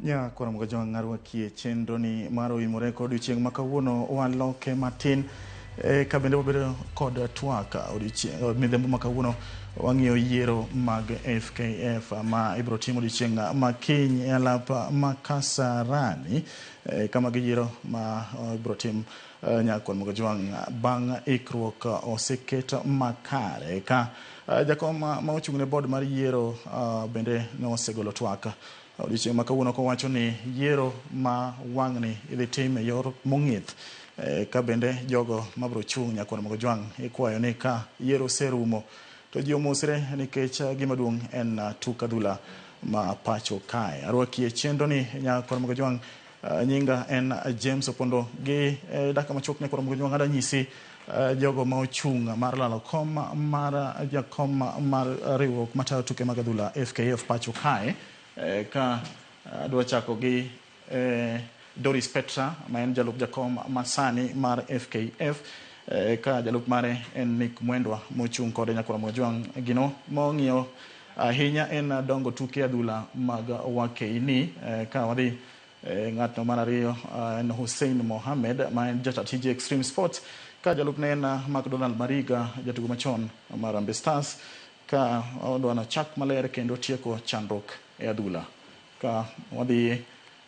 Ja kwaram ga jawang' arwakie chenroni mar oimore kod odiochieng' ma kawuono waloke matin e, ka bende wabedo kod twak odiochieng' eh, midhembo ma kawuono wang'iyo yiero mag FKF ma ibiro tim odiochieng' ma kiny e alap ma Kasarani e, kama giyiero ma eh, ibiro tim eh, Nyakon Mugajwang' bang' ikruok oseket makare ka Eh, jakom ma ochung' ne bod mar yiero eh, bende ne osegolo twak eh, odiochieng' ma kawuono kowacho ni yiero ma wang'ni idhi tim e yor mong'ith ka bende jogo mabiro chung' nyakwar mogo jwang' ikwayo ni ka yiero oserumo to ji omosre nikech gima duong' en tuk adhula ma pacho kae. Arwakie chenroni nyakwar mogo jwang' Uh, nyinga en uh, James Opondo gi eh, dakika machuok ne koro mogo nyuang adanyisi uh, jogo ma ochung' mar lalo kom mar uh, jakom mar uh, riwruok matayo tuke mag adhula FKF pacho kae eh, ka uh, adwa chako gi eh, Doris Petra ma en jalup jakom masani mar FKF eh, ka jalup mare en Nick Mwendwa mochung' kode nyakora Mwajwang' gino mong'iyo ahinya en dongo tuke adhula mag wakeini. Eh, ka wadhi eh, ng'atno mar ariyo eh, en Hussein Mohamed ma en jata tije Extreme Sports, ka jalupne en eh, McDonald Mariga, jatugo machon mar Harambee Stars, ka odwano chak maler kendo tieko chandruok e adhula. Ka wadhi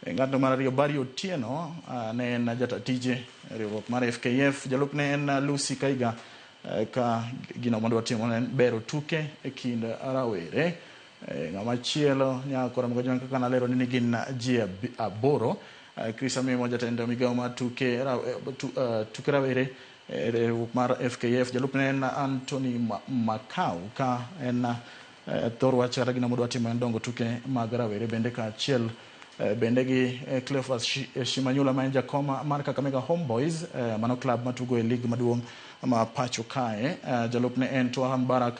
E ng'ato mar ariyo Barry Otieno ne en jata tije e riwruok mar FKF, jalup ne en Lucy Kaiga ka gino madwa timo ne bero tuke e kind rawere. E, ng'ama chielo nyakora mgajwan kaka nalero ni gin ji aboro. E, Chris Amimo jatend migawo mar tuke, e, tuke rawere riwruok mar FKF, jalup ne en Anthony Makau ka en Eh, thor wach kata gino modwa timo en dongo tuke mag rawere bende kaachiel eh, bende gi eh, Cleophas Shimanyula ma en jakom mar Kakamega Homeboys mano klab matugo e lig maduong' ma pacho kae. Jalupne en Twaha Mbarak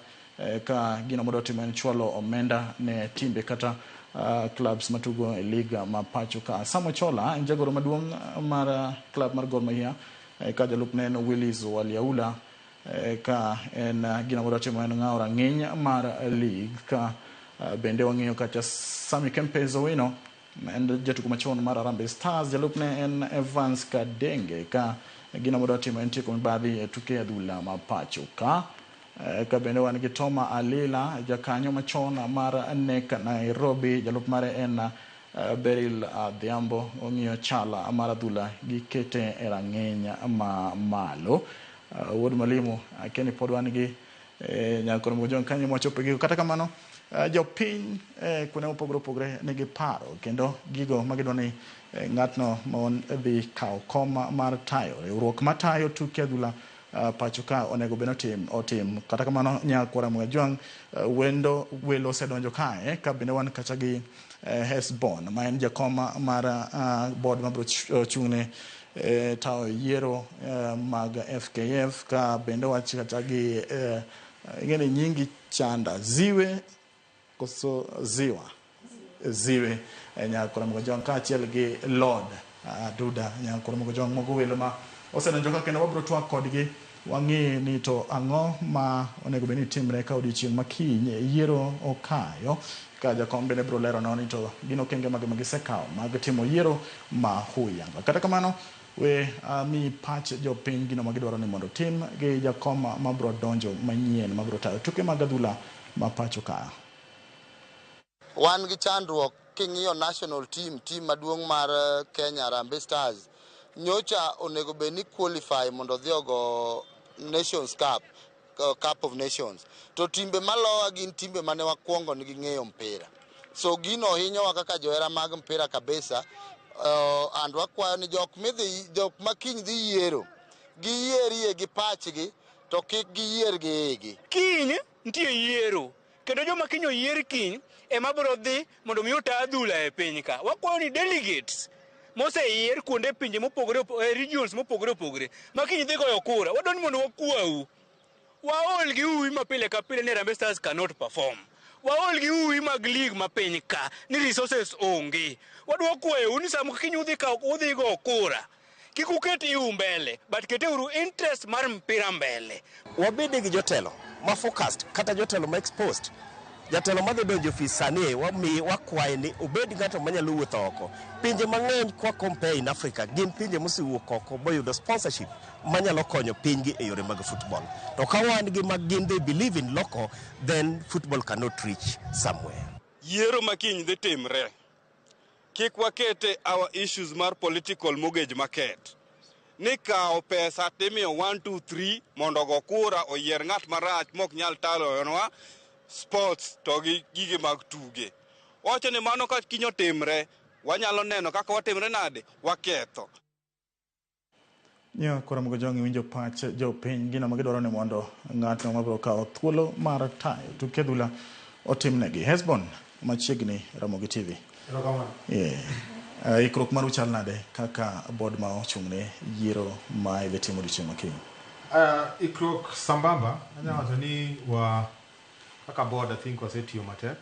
ka gino modwa timo en chwalo omenda ne timbe kata uh, clubs matugo e liga ma pacho ka. Sam Ochola en jagoro maduong' mar uh, club mar Gor Mahia eh, ka jalupne en Willis Waliaula Eh, ka en eh, gino modwa timo en ng'awo rang'iny mar lig ka eh, bende wang'iyo kacha Sami Kempes Owino en jatugo machon mar Harambee Stars jalupne en Evans Kadenge ka gino modwa timo en tieko mibadhi e tuke adhula ma pacho ka ka bende wan gi Toma Alila jakanyo machon mar NEC Nairobi jalup mare en Beril Adhiambo ong'iyo chala mar adhula gikete e rang'iny ma malo Uh, wuod Mwalimu, akia ni pod wan gi eh, nyakon moko jong kanyo mwachopo e giko. Kata kamano, uh, jopiny eh, kuonde mopogore opogore nigi paro kendo gigo ma gidwa ni eh, ng'atno mon dhi kawo kom mar tayo riwruok matayo tuke adhula uh, pacho ka onego bed otim otim. Kata kamano, nyakwara Mwajwang uh, wendo welo osedonjo kae ka bende wan kacha gi eh, Hesbon ma en jakom mar uh, board mabiro ch- chung'ne e tawo yiero mag FKF ka bende wach kata gi ing'eni nyingi chanda ziwe koso ziwa ziwe nyakora mogo jong kaachiel gi lord aduda nyakora mogo jong mogo welo ma osedonjo ka kendo wabiro twak kodgi Wang'i ni to ang'o ma onego bed ni timre ka odiechieng' ma kiny yiero okayo? Ka jakom bende biro leronwa ni to gin okenge mage ma gisekawo mag timo yiero ma huyanga. Kata kamano, we ami pach jopiny gino ma gidwaro ni mondo otim gi jakom ma biro donjo manyien ma biro tayo tuke mag adhula ma pacho ka. Wan gi chandruok king'iyo national team, team maduong' mar eh, Kenya Harambee Stars nyocha onego bed ni qualify mondo odhi ogo Nations Cup, eh, Cup of Nations. To timbe malowa gin timbe mane wakwongo nigi ng'eyo mpira. So gino hinyowa kaka johera mag mpira kabisa. Eh, and wakwayo ni jok midhi jok ma kiny dhi yiero giyierie gi pachgi to kik giyier gi igi. Kiny nitie yiero. Kendo joma kiny oyier kiny ema biro dhi mondo mi ota adhula e piny ka. Wakwayo ni delegates moseyier kuonde pinje mopogore opogore, eh, regions mopogore opogore ma kiny dhi goyo kura, wadwa ni mondo wakwau waol gi uwi ma pile ka pile ni Harambee Stars cannot perform. Waol gi uwi mag lig ma piny ka ni resources onge. Wadwa kwayou ni sama kiny udhi kawo udhi go kura, Kik uket iu mbele, but keteuru interest mar mpira mbele. Wabede gi jotelo ma focused kata jotelo ma exposed. Jatelo madhi donjo ofis sani wami wakwaye ni obed ng'ato manyalo wuotho oko. Pinje mang'eny kwa compare in Africa gin pinje mosewuok oko boyudo sponsorship manyalo konyo pinygi e yore mag football. To ka wan gi mag gin they believe in local then football cannot reach somewhere. Yiero ma kiny dhi timre. Kik wakete our issues mar political mortgage market. Ni kawo pesa timiyo 1 2 3 mondo go kura oyier ng'at marach mok nyal taloyonwa sports to gi gige mag tuge. Wacho ni mano ka kinyo timre wanyalo neno kaka watimre nade waketho. Nyo kura mogo jongi winjo pach jo piny gino ma gidwaro ni mondo ng'atno mabiro kawo thuolo mar tayo tuke adhula otimnegi. Hesbon machiegni romo gi TV. Yeah. Uh, ikruok mar uchal nade kaka bod ma ochung'ne yiero ma idhi timo odiochieng' makiny? Uh, ah, ikruok sambamba anyalo wacho ni wa kaka bod I think wasetiyo matek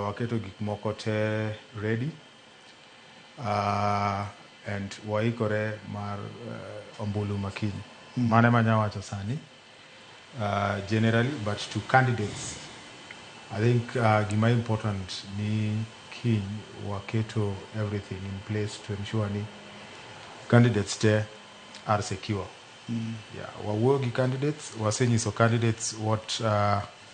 Waketo gik moko te ready and waikore mar ombulu ma kiny. Mano ema anya wacho sani generally but to candidates I think gima important ni kiny waketo everything in place to ensure ni candidates te are secure. Wawuoyo gi candidates, wasenyiso candidates what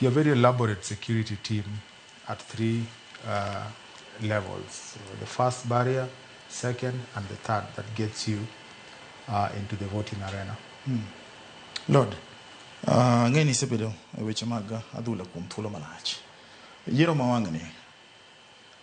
Your very elaborate security team at three levels. The first barrier, second, and the third that gets you into the voting arena. Lord, ang'eyo ni isebedo e weche mag adhula kuom thuolo malach. Yiero ma wang'ni.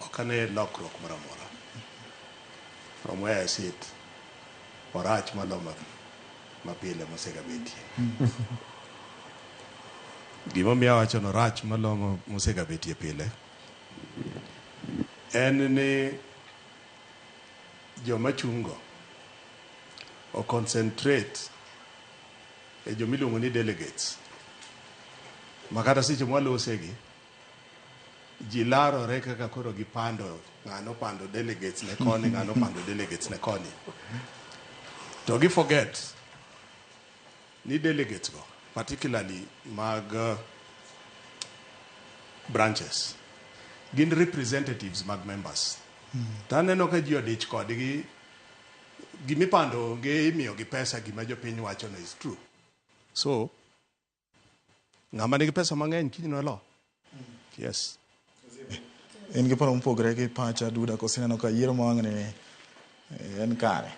Ok ane lokruok moro amora from where I sit orach maloyo mapile mosegabetie. Gimomiyo awacho ni orach maloyo mosegabetie pile en ni joma chungo o concentrate e joma iluongo ni delegates makata seche mwalosegi ji larore kaka koro gipando ng'ano pando delegates ne koni ng'ano pando delegates ne koni to gi forget ni delegates go particularly mag uh, branches gin representatives mag members to aneno ka ji odich kodgi gimipando onge imiyogi pesa gima jopiny wachono is true so ng'ama nigi pesa mang'eny kiny noelo yes in gi paro mopogre gi pacha duda koso ineno ka yiero ma wang'ni eh, en kare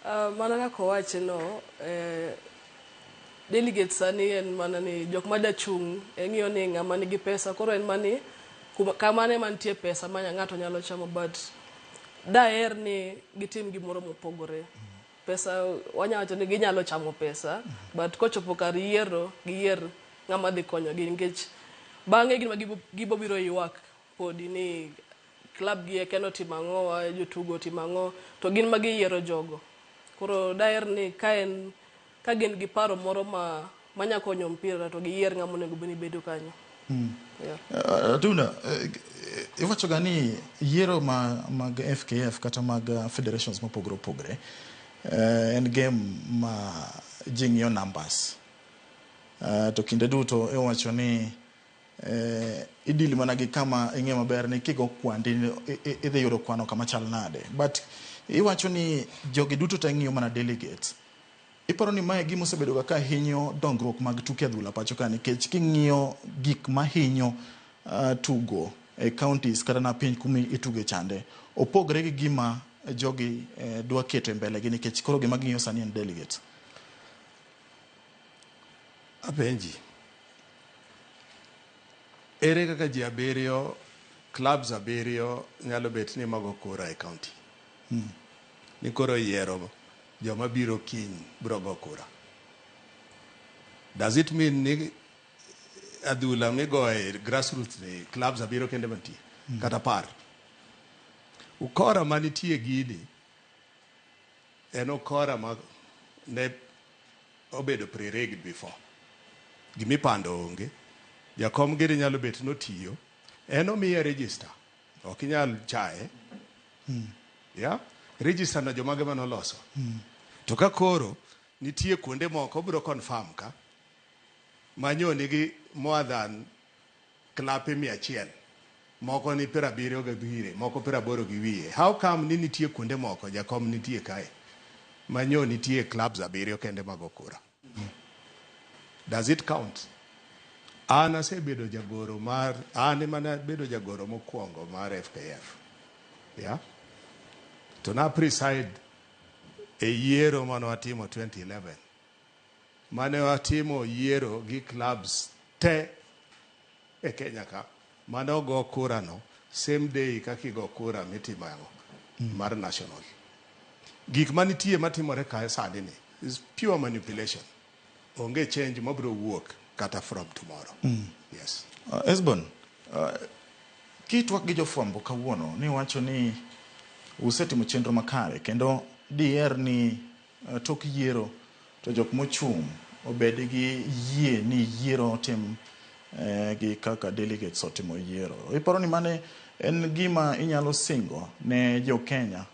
Ah, mana kaka owache no eh, delegate sani en mana ni jok ma dachung' e ng'iyo ni ng'ama nigi pesa koro en mani kuma- kamane mantie pesa ma ng'ato nyalo chamo but daher ni gitim gimoro mopogore Pesa wanya wacho ni ginyalo chamo pesa but kochopo kar yiero giyier ng'ama dhi konyogi nikech bang'e gin ma gibo- gibobiro ywak podi ni klab gi eke notimo ang'o wa jotugo otimo ang'o to gin ma giyiero jogo koro daher ni ka en ka gin gi paro moro ma manya konyo mpira to giyier ng'ama onego bed ni bedo kanyo mm. yeah. uh, Atunda uh, iwachoga ni yiero ma, mag FKF kata mag uh, federations mopogore opogore uh, en game ma ji ng'iyo numbers uh, to kinde duto iwacho ni uh, idili mana gi kama ing'e maber ni kigo kwandi idhi yudo kwano kama chal nade but iwacho ni jogi duto te ng'iyo mana delegates Iparo ni mae gima osebedoga ka hinyo dongruok mag tuke adhula pacho ka nikech king'iyo gik mahinyo uh, tugo e counties kata na piny kumi ituge chande opogre gi gima jogi eh, dwa keto e mbele gi nikech koro gima ging'iyo sani en delegates. Apenji, ere kaka ji abiriyo clubs abiriyo nyalo bet ni mago kura e county? ni koro oyiero joma biro kiny biro go kura. Does it mean ni adhula migoye grassroots ni clubs abiro kende mantie mm. kata par ukora manitie gini en ukora ma ne obedo pre-rigged before gimipando onge jakom gini nyalo bet notiyo en omiye register ok inyal chaye ya register na jomage mane oloso to ka koro nitie kuonde moko obiro confirm ka manyo nigi more than klape mia achiel moko ni piero abiriyo gi wiye moko piero aboro gi wiye how come ni nitie kuonde moko jakom nitie kae manyo nitie clubs abiriyo kende mag okura Does it count? An asebedo jagoro mar an ema nabedo jagoro mokwongo mar FKF. Yeah. To na preside e yiero mane watimo 2011 mane watimo yiero gi clubs te e Kenya ka. Mane ogo kura no same day kaka igo kura mitimo yango mar national. Gik manitie matimore kae sani ni is pure manipulation. Onge change mabiro wuok kata from tomorrow. Yes. Uh, Esbon, uh, kitwak gi jofwambo kawuono niwacho ni usetimo chenro makare kendo diher ni E tok yiero to jok mochung' obed gi yie ni yiero otim e, gi kaka delegates otimo yiero. Iparo ni mane en gima inyalo singo ne jo Kenya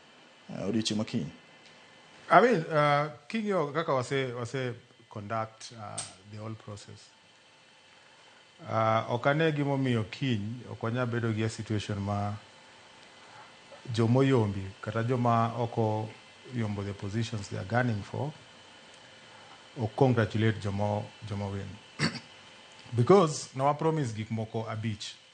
e, odiochieng' makiny? I mean, uh, king'iyo kaka wase, wase conduct uh, the whole process. Uh, ok ane gimomiyo kiny ok wanyal bedo gi a situation ma jomoyombi kata joma oko yombo the positions they are gunning for ok congratulate jomo jomo win because ne wa promise gik moko abich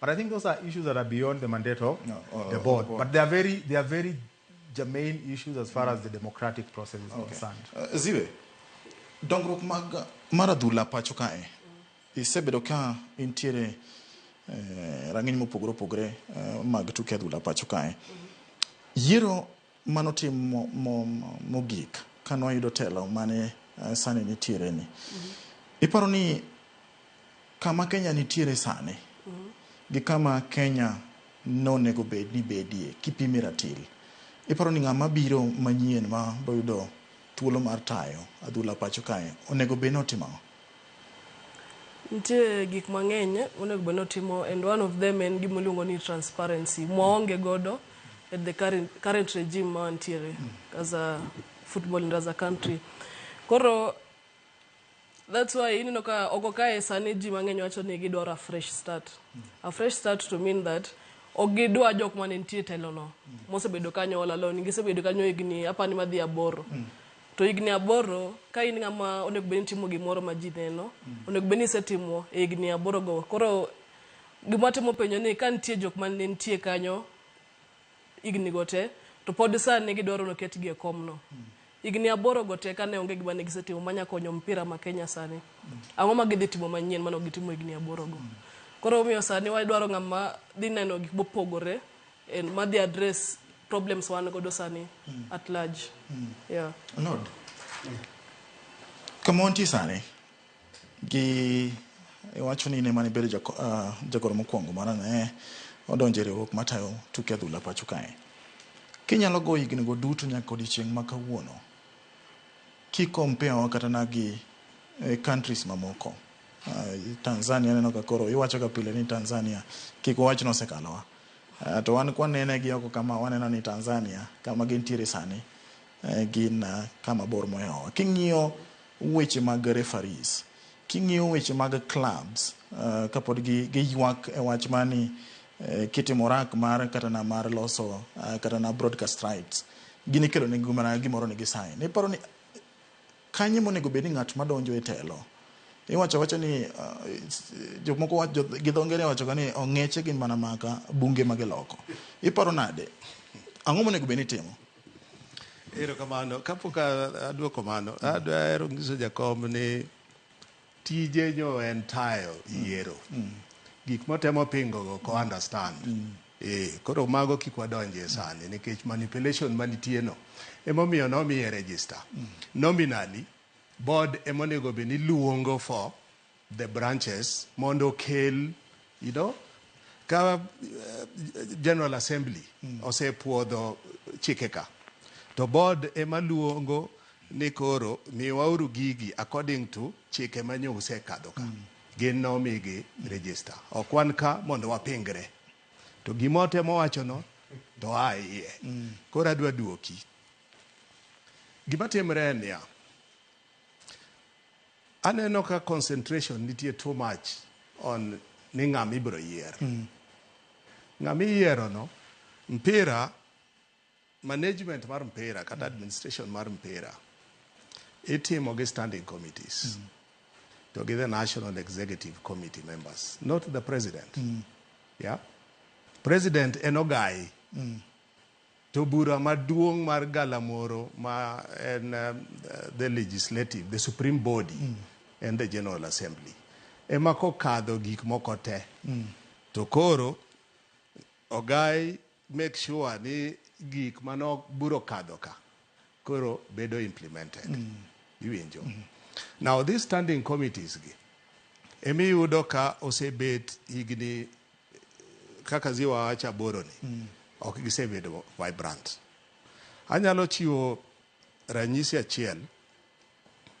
But I think those are issues that are beyond the mandate of no, oh, the, board. the, board. But they are very, they are very germane issues as far mm. as the democratic process is okay. concerned. Uh, Ziwe, dongruok mag mar adhula pacho kae isebedo ka intiere eh, rang'iny mopogore opogore eh, mag tuke adhula pacho kae yiero Mano tim mogik kane wayudo telo mane sani nitiereni. Iparo ni kama Kenya nitiere sani gi kama Kenya nonego bed ni bedie kipime ratil, iparo ni ng'ama biro manyien ma boyudo thuolo mar tayo adhula pacho kae onego bed ni otimo ang'o? Nitie gik mang'eny monego bed ni otimo and one of them en gima iluongo ni transparency mwaonge godo at the current, current regime ma wantiere as a football and as a country. Koro that's why ineno ka oko kae sani ji mang'eny wacho ni gidwaro a fresh start. A fresh start to mean that ok gidwa jok mane nitie e telono mosebedo kanyo all along. Gisebedo kanyo higni apani madhi aboro. To higni aboro, ka in ng'ama onego bed ni itimo gimoro ma ji neno, onego bed ni isetimo e higni aborogo. Koro gima watemo penjo ni ka nitie jok ma ne nitie kanyo higni go te, to pod sani gidwaro ni oketgi e komno. Higni aborogo te kane onge gima ne gisetimo manya konyo mpira ma Kenya sani, ang'o ma gidhi timo manyien mane ok gitimo higni aborogo? Koro omiyo sani wadwaro ng'ama dhi neno gik mopogore. and madhi address problems wan godo sani mm. at large mm. yeah. Lord yeah. kama wantie sani gi iwacho ni ne mane bedo ah, jagoro mokwongo mara ne odonjo e riwruok matayo tuke adhula pacho kae kinyalo go higni go duto nyaka odiechieng' ma kawuono kikompewa kata na gi e, countries mamoko ah, tanzania neno ka koro iwachoga pile ni tanzania kik wawach nosekalowa To wan kwanene gi oko kama waneno ni Tanzania kama gintiere sani gin kama bor mohewowa. King'iyo weche mag referees, king'iyo weche mag clubs uh, kapod gi giywak e wach mani uh, kitimo rak mar kata na mar loso uh, kata na broadcast rights gini kelo ne gimoro gimoro ni gisain iparo ni Kanye monego bed ni ng'at ma donjo e telo? Iwacho awacha ni jomoko wacho gi dho ngere wachoga ni ong'eche gin mana maka bunge ma giloko. Iparo nade? Ang'o monego bed ni itimo? Erokamano. Kapok adwoko mano, adwaro nyiso jakom ni Tije nyo en tayo yiero. Gik motemo pingo go ko understand. Eh, koro mago kik wadonje sani nikech manipulation manitie no emomiyo nomiye register. Nominally board emonego bed ni luongo for the branches mondo okel You know, ka eh, General Assembly osepuodho chikeka to board ema luongo ni koro miwauru gigi according to chike ma nyo usekadho ka gin nomigi register ok wan ka mondo wapingre to gima otemo wachono to a iye koro adwa duoki gima timre en niya Aneno ka concentration nitie too much on ni ng'ama ibiro yier. Ng'ama iyierono, mpira, management mar mpira kata administration mar mpira itimo gi standing committees to gi the national executive committee members not the president. Yeah? President en ogayi. To bura maduong' mar galamoro ma en the legislative, the supreme body en the general assembly ema kokadho gik moko te to koro ogai make sure ni gik mano bura okadho ka koro bedo implemented. Iwinjo? Now these standing committees gi emiyudo ka osebet higni kaka zi wawacho aboro ni mm. ok gisebedo vibrant anyalo chiwo ranyisi achiel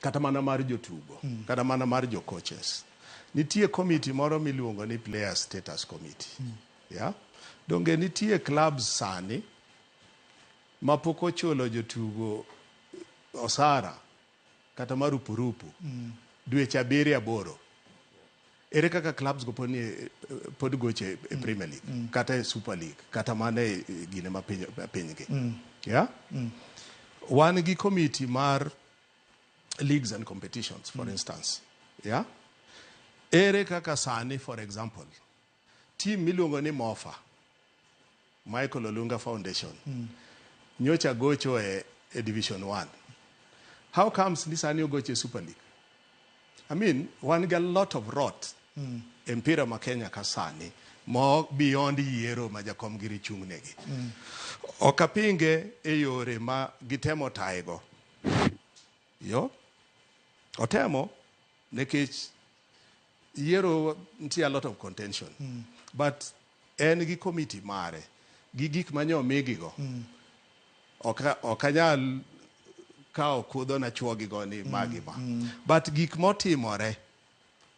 kata mana mar jotugo mm. kata mana mar jocoaches nitie komiti moro miluongo ni player status committee mm. yeah? donge nitie clubs sani mapok ochulo jotugo osara kata marupurupu dweche abiriyo aboro, ere kaka clubs go pod nie pod gocho e e Premier League kata e Super League kata mana e e gine ma piny pinygi. Yeah? Wan gi committee mar leagues and competitions for instance. Yeah? Ere kaka sani for example Team miluongo ni Mofa, Michael Olunga Foundation, nyocha gocho e, e Division 1. How comes ni sani ogocho e Super League? I mean, wan ga lot of rot e mpira ma Kenya ka sani, ma beyond yiero ma jakom giri chung' negi. Ok apinge e yore ma gitemo tayego. Yo, otemo Nekech yiero nitie a lot of contention mm. but en gi komiti mare gi gik manye omigigo mm. ok anyal kawo kudho na chwogigo ni mm. magi ma mm. but gik motimore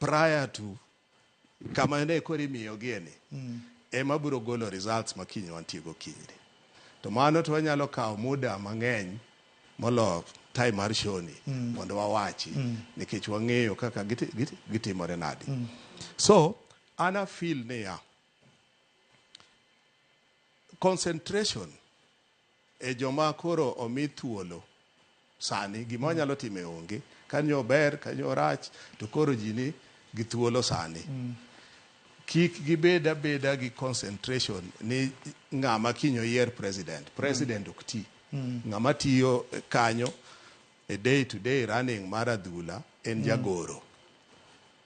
prior to Kama ne koro imiyogie ni ema biro golo results ma kiny wantie go kinyni. To mano to wanyalo kawo muda mang'eny molo time mar show ni mondo wawachi nikech wang'eyo kaka giti- giti- gitimore nadi. So an a feel niya, concentration E joma koro omi thuolo sani, gima wanyalo time onge. Ka nyo ober, ka nyo orach, to koro ji ni gi thuolo sani. Kik gibed abeda gi concentration ni ng'ama kiny oyier president. President ok ti. Ng'ama tiyo kanyo e day to day running mar adhula en jagoro.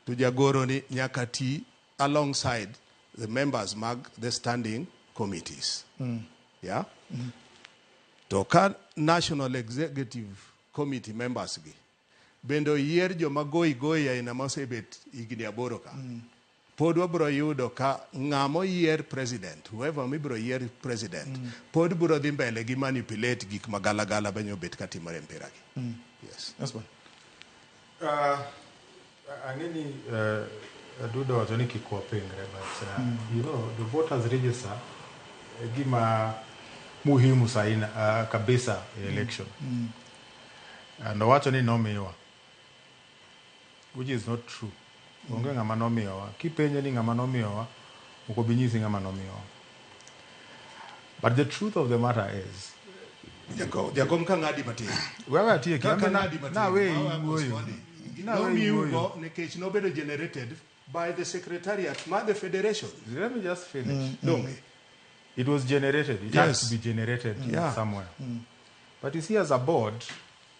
To jagoro ni nyaka ti alongside the members mag the standing committees yeah to ka national executive committee members gi bende oyier joma goyi goyi aina ma osebet higni aboro ka pod wabiro yudo ka ng'ama oyier president whoever mibiro yier president pod biro dhi mbele gi manipulate gik ma galagala benyo obet katimore e mpira gi yes Yes, man. Uh, ang'e ni uh, Aduda wacho ni kik wapingre but uh, mm. you know the voters register e gima muhimu saina uh, kabisa e election mm. Mm. and owacho ni nomiwa which is not true Onge ng'ama nomiyowa. Kipenje ni ng'ama nomiyowa, ok obi nyisi ng'ama nomiyowa. But the truth of the matter is, Jakom, jakom ka ng'adi matin. wewe atieki, Ka an be na- ng'adi matin. naweyi Mawa wuoyo. Koswani. Naweyi Nomiu wuoyo. go nikech nobedo generated by the secretariat ma the federation. Let me just finish. Donge. It was generated. It Yes. has to be generated Yeah. somewhere. But you see, as a board,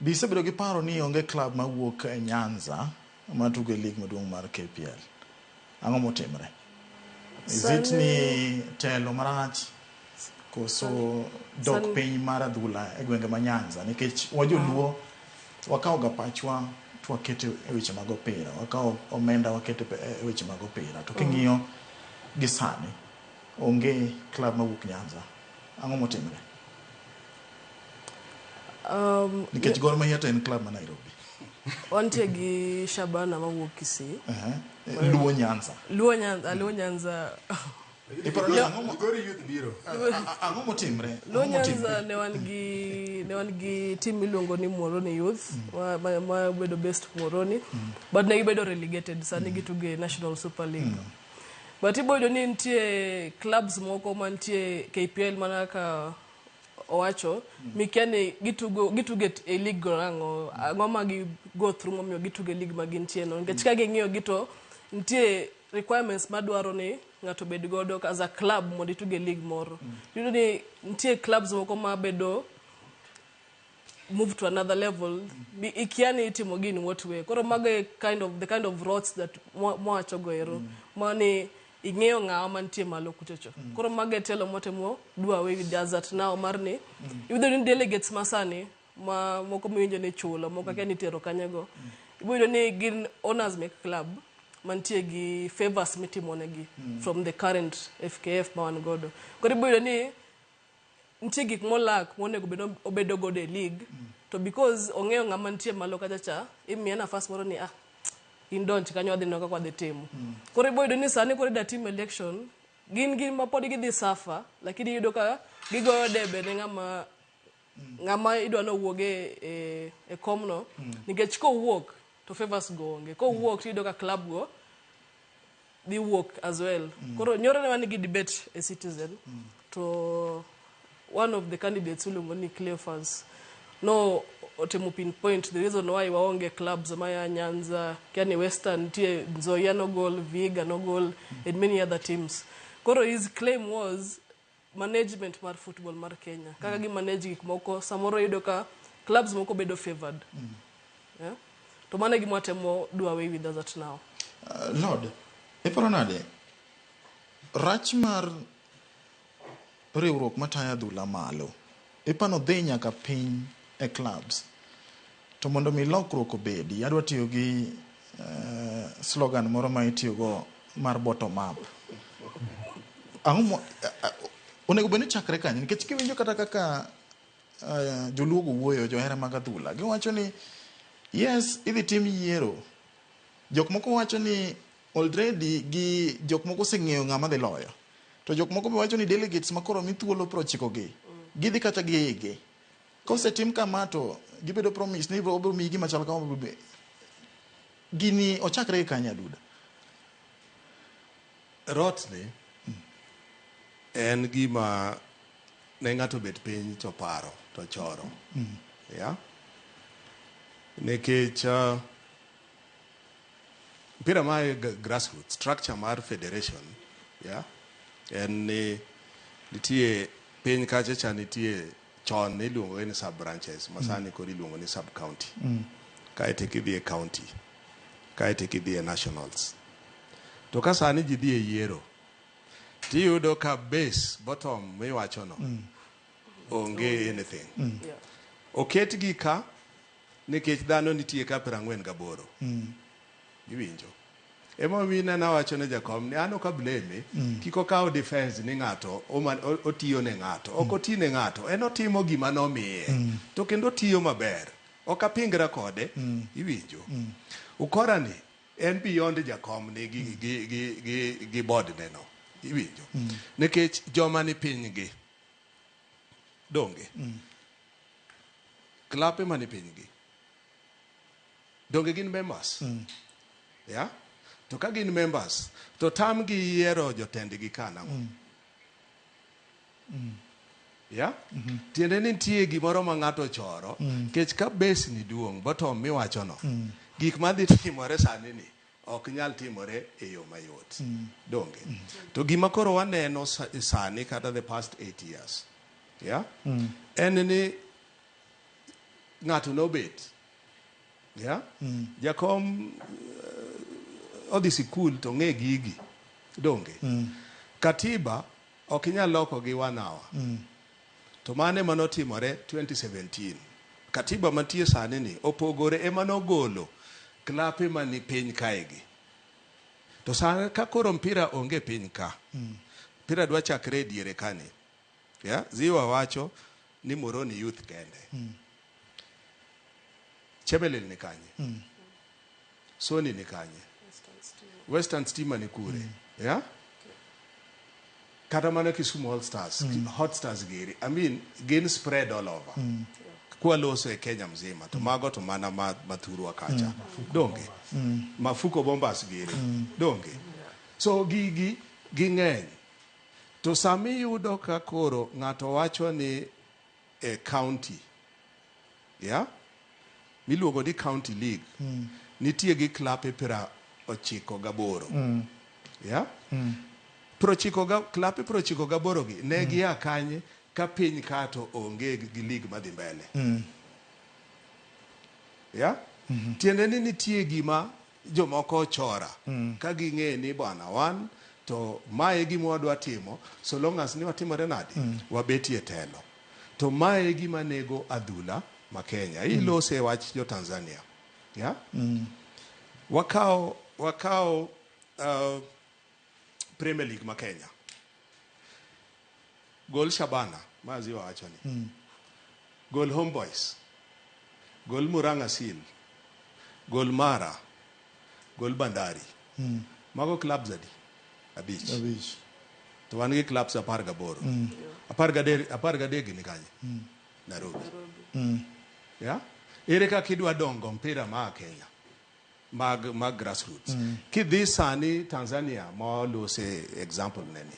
Be isebedo gi paro ni onge klab ma wuok e Nyanza ma tugo e lig maduong' mar KPL? Ang'o motimre? Is it ni telo marach koso dok piny mar adhula e gwenge ma Nyanza? Nikech wajoluo wakawo ga pachwa to wakete e weche mag opira, wakawo omenda wakete e weche mag opira. To king'iyo gi sani, Onge club mawuok Nyanza. Ang'o motimre? Um, Nikech Gor Mahia to en club ma Nairobi. wantie gi Shabana mawuok Kisii. Aha. Eh, Luo Nyanza. Luo Nyanza, Luo Nyanza. Iparo ni ang'o mo- Migori youth biro. a- a- ang'o motimre? Luo Ang'o motimre? Nyanza ne wan gi ne wan gi team miluongo ni Muoroni Youth ma- ma ma bedo based Muoroni but ne gibedo relegated sani gitugo e National Super League. But iboyudo ni nitie clubs moko mantie KPL mana kaka owacho mikia ni gitugo gitugo e- e league go nang'o ang'o ma gi go through momiyo gitugo e league ma gintie no nikech ka ging'iyo gi to nitie requirements madwaro ni ng'ato bed godo as a club mondo itug e league moro. Iyudo ni nitie clubs moko mabedo move to another level Bi- ikia ni itimo gi in what way koro mago e kind of the kind of roads that mwa- mwawacho go ero mani ing'eyo ng'awa mantie malo kuchocho koro mago e telo motemo do away with the hazard now mar ni iyudo ni delegates masani ma moko miwinjo ni chulo moko akia ni itero kanye go ibiyudo ni gin owners mek club mantie gi favors mitimonegi from the current fkf ma wan godo koro ibiyudo ni nitie gik molack monego bed ni obedo godo e league to because ong'eyo ng'ama nitie malo kacha cha imiye nafas moro ni ah in donj kanyo wadhi neno kaka wadhi timo koro iboyudo ni sani koro ida tim election gin gin ma pod gidhi suffer lakini iyudo ka gigoyo debe ne ng'ama ng'ama idwa ni owuog e, e, e komno nikech kowuok to favours go onge kowuok tiyudo ka club go dhi wuok as well koro nyoro ne wan gi debate e citizen to one of the candidates iluongo ni cleofans no otemo pinpoint the reason why waonge clubs maya nyanza yani western nitie nzoia nogol viga nogol and many other teams koro his claim was management mar football mar Kenya kaka gi manage gik moko samoro yudo ka clubs moko bedo favored yeah? to mano e gima watemo do away with as at now Uh, Lord, iparo nade rach mar riwruok matayo adhula malo Pipa no dhi nyaka piny e clubs. To mondo mi lokruok obedi, adwa tiyo gi uh, slogan moro ma itiyogo mar bottom up. Ang'o mo, uh, onego bed ni chakre kanyo nikech kiwinjo kata kaka uh, joluogo wuoyo johera mag adhula giwacho ni yes idhi tim yiero jok moko wacho ni Already gi jok moko oseng'eyo ng'ama dhi loyo. To jok moko be wacho ni delegates ma koro omi thuolo piero ochiko gi, gidhi kata gi igi. Kosetim kama to gibedo promise ni ibiro obiro miyi gima chal kama obiro be- gini ochakre gi kanye aduda? Rotni en gima ne ng'ato obet piny to paro to choro. Yeah? Nikech ah, Mpira ma e g- grassroots structure mar federation yeah, en ni nitie piny kacha cha nitie chon niluongo ni sub branches ma sani koro iluongo ni sub county Mm. kaeto eka idhi e county kaeto eka idhi e nationals to ka sani ji dhi e yiero tiyudo ka base bottom miwachono Mm. onge anything Mm. oketgi ka Nikech dhano nitie ka prang'wen gaboro. Iwinjo? Ema omiyo ineno awacho ne Jakom ni an ok ableme, kik okaw defense ni ng'ato oman- o- otiyo ne ng'ato. Ok oti ne ng'ato. En otimo gima nomiye. To kendo otiyo maber. Ok apingra kode. Iwinjo? Ukora ni en beyond Jakom ni gi, gi, gi, gi, gi board ne no. Iwinjo? Nikech joma ni piny gi. Donge? Klape man e pinygi. Donge gin members? Mm. Yeah? To ka gin members, to tam gi yiero jotendgi ka nang'o? Mm. Mm. Yeah? Mm -hmm. Tiende ni nitie gimoro ma ng'ato choro, mm. kech ka base ni duong', bottom miwachono. Mm. Gik madhi timore sani ni. Ok nyal timore e yo mayot, donge? To gima koro waneno sa- sani kata the past eight years, yeah? en ni ng'ato nobet yeah? jakom eh, odhi sikul to ng'e gigi donge katiba ok inyal loko gi one hour To mano ema notimore 2017. Katiba mantie sani ni opogore ema nogolo klape mani piny kae gi. To sani ka koro mpira onge piny ka. Mm. Mpira dwa chakre e diere kani. Yeah? Ziwa wacho ni Moroni Youth kende. Mm. chebelel ni kanye soni ni kanye western stima ni kure yeah? kata mana kisumu all stars hot stars geri i mean gin spread all over kwaloso e kenya mzima to mago to mana ma- mathurwa kacha donge mafuko bombas giri donge so gigi ging'eny to sami yudo ka koro ng'ato wacho ni e county yeah, miluongo ni county league mm. nitie gi klape pira ochiko gaboro mm. yeah? mm. prochiko ga, klape prochiko gaboro gi ne mm. gia kanye ka piny kato onge gi league madhi mbele mm. yeah? mm -hmm. tiende ni nitie gima jomoko ochora ka ging'e ni bwana wan to mae e gima wadwa timo so long as ni watimore nadi wabetie e telo to mae e gima nego adhula ma Kenya ilose e wach jo Tanzania yeah? wakawo wakawo uh, Premier League ma Kenya. Gol Shabana ma Aziwa wacho ni. Mm. Gol Homeboys. Gol Murang'a Seal. Gol Mara. Gol Bandari. Mm. Mago clubs adi? Abich. Abich. To wan gi clubs apar gaboro. Mm. Apar gadek apar gadek ni kanye? Mm. Nairobi. Mm. Yeah? Ere kaka idwa dongo mpira ma Kenya? mag mag grassroots mm. kidhi sani Tanzania ma lose example neni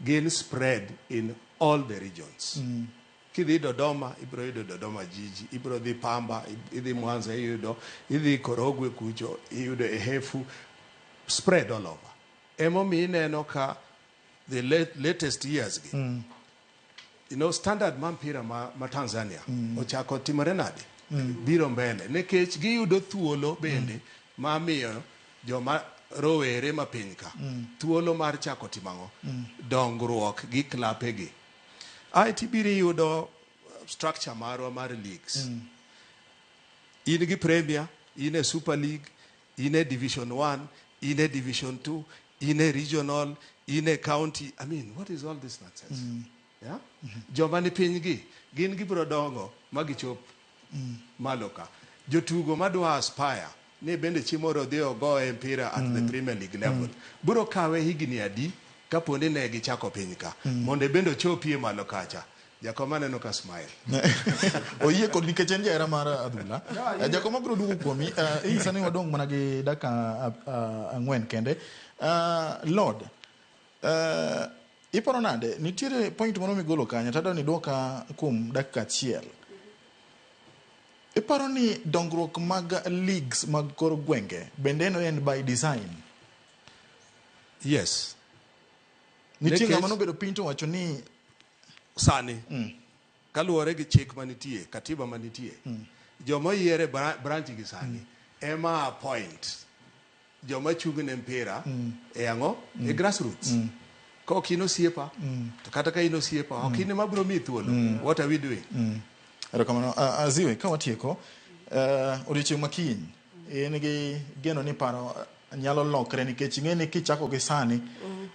gin spread in all the regions mm. kidhi Dodoma ibro yudo Dodoma jiji ibro dhi Pamba idhi Mwanza iyudo idhi Korogwe kucho iyudo Ehefu spread all over emomiyo ineno ka the late, latest years gi mm. you know, standard ma mpira ma, ma Tanzania mm. ochako timore nade mm. biro mbele nikech giyudo thuolo bende mm. ma miyo joma rowere ma piny ka mm. thuolo mar chako timang'o mm. dongruok gi klapegi ae tibiro iyudo structure marwa mar leagues mm. in gi premier in e super league in e division one, in e division two, in e regional, in e county. I mean, what is all this nonsense? Mm. Yeah? Mm -hmm. Joma ni piny gi, gin gibiro dongo ma gichop mm. malo ka. Jotugo madwa aspire ni bende chimoro dhi ogo e mpira at mm. the Premier League level. Mm. Biro kawe higni adi kaponi ne gichako piny ka. Mm. Mondo e bende ochopie malo kacha. Jakoma neno ka smile. Oyie kod nikech en jahera mar adhula. Eh, Jakoma biro duogo kuomi. Eh, Hii sani wadong' mana gi dakika ah, ah, ang'wen kende. Ah, Lord, eh, iparo nade? Nitiere point moro migolo kanyo tadwa ni dwoka kuom dakika achiel. Iparo ni dongruok mag leagues mag kor gwenge bende eno en by design? Yes. Nitie Nikech- ng'ama nobedo piny to wacho ni sani mm. kaluwore gi chik manitie katiba manitie mm. joma oyiere branch gi sani mm. ema appoint joma chung ne mpira mm. e ang'o mm. e grassroots mm. ka ok in osiepa mm. to kata ka in osiepa mm. ok in ema biro miyi thuolo mm. what are we doing mm. erokamano uh, aziwe ka watieko uh, odiochieng' makiny in gi geno ni paro nyalo lokre nikech ing'e ni kichako gi sani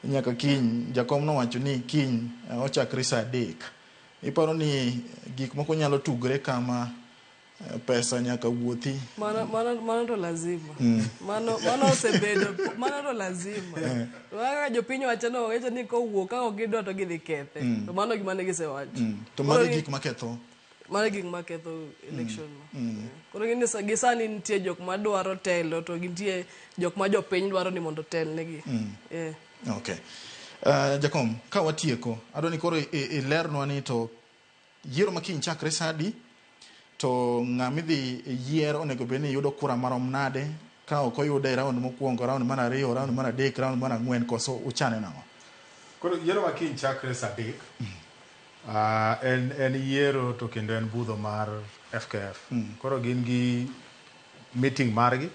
nyaka kiny jakom nowacho ni kiny eh, ochakre saa adek iparo ni gik moko nyalo tugre kama eh, pesa nyaka wuothi Mano, mano, mano to lazima mano, mano osebedo mano to lazima To kaka jopiny wacho no wacho ni kowuok ka ok gidwa to gidhi kethe to mano gima ne gisewacho Mm. to magi Koro ni- gik maketho mano gik ma ketho election no mm. koro gini gi sani nitie jok ma dwaro telo to gintie jok ma jopiny dwaro ni mondo otelnegi mm. yeah. okay uh, jakom ka watieko adwa ni koro ilernwa ni to yiero ma kiny chakre sadi to ng'a midhi yier onego bed ni yudo kura marom nade ka ok oyude e raund mokwongo raund mar ariyo raund mar adek raund mar ang'wen koso uchane nang'o koro yiero ma kiny chakre sadek mm. En en yiero to kendo en budho mar FKF. Koro gin gi meeting margi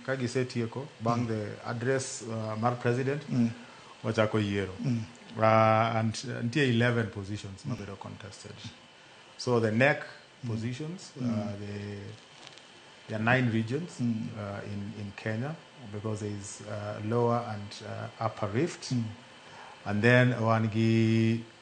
ka gisetieko bang' the address uh, mar president wachako yiero. Uh, and uh, nitie 11 positions mabedo contested. So the NEC positions, uh, the there are nine regions uh, in, in Kenya because there is uh, lower and uh, upper rift. And then one gi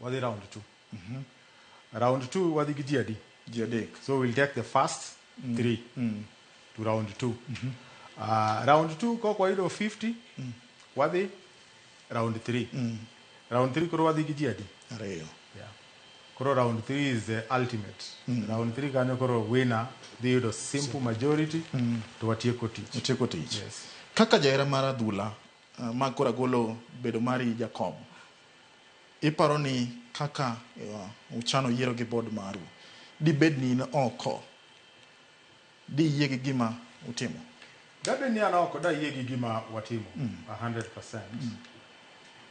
Wadhi round two. Round two wadhi gi ji adi? Ji adek. So we'll take the first three to round two. Uh, round two kok wayudo 50 wadhi round three. Round three koro wadhi gi ji adi? Ariyo. Yeah. Koro round 3 is the ultimate. Round 3 kanyo koro winner dhi yudo simple majority to watieko tich. Itieko tich. Yes. Kaka jahera mar adhula, Uh, ma koro agolo bedo mari Jakom. Iparo ni kaka uh, uchano yiero gi bod maru, dibed ni in oko, diyie gi gima utimo? Dabed ni an oko, dayie gi gima watimo mm. 100%. Mm.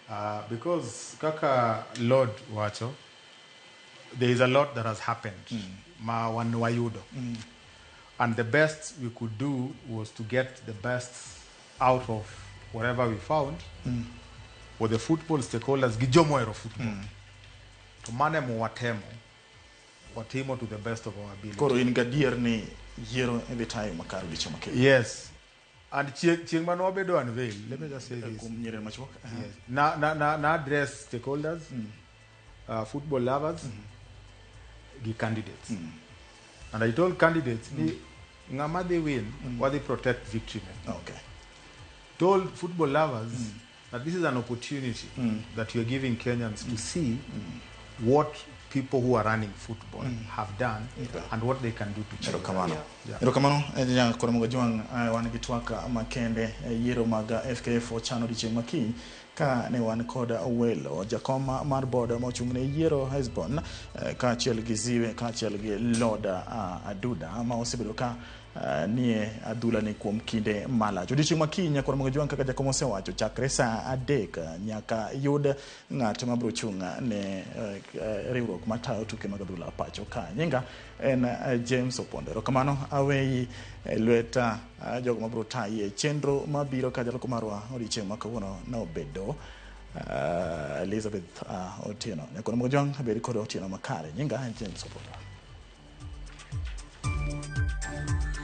Uh, because kaka Lord wacho, there is a lot that has happened mm. ma wan wayudo mm. and the best we could do was to get the best out of whatever we found mm. were the football stakeholders gi jomo ero football mm. to mane mo watemo watimo to the best of our ability koro in gadier ni yiero idhi tayo makar gicho makel yes and chieng chieng mano wabedo unveil let me just say this kum nyere machuok yes na na na, na address stakeholders mm. uh, football lovers gi candidates and i told candidates ni ng'ama dhi win wadhi protect victory ne Okay. told football lovers that this is an opportunity that you're giving Kenyans to see what people who are running football have done and what they can do to change. erokamano Yeah. erokamano ja koromogo jwang' eh, wan gi twak makende eh, yiero mag eh, fkf ochano odiechieng' makiny Ka ne wan kod welo, jakom mar board ma ochung' ne yiero Hesbon, eh, kaachiel gi Ziwe, kaachiel gi Lord ah, Aduda ma osebedo ka ah, nie adhula ni kuom kinde malach. Odiochieng' ma kiny Nyakor Mongejwang' kaka jakom osewacho chakre saa adek ah, nyaka yud ng'at ma biro chung' ne eh, eh, riwruok matayo tuke mag adhula pacho ka. Nyinga en eh, James Opondo. Erokamano aweyi eh, lwet eh, jogo mabiro tayi e chenro mabiro ka jaloko marwa odiochieng' ma kawuono nobedo eh, Elizabeth eh, Otieno. Nyakono Mogojwang' abedi kod Otieno makare. Nyinga en James Opondo.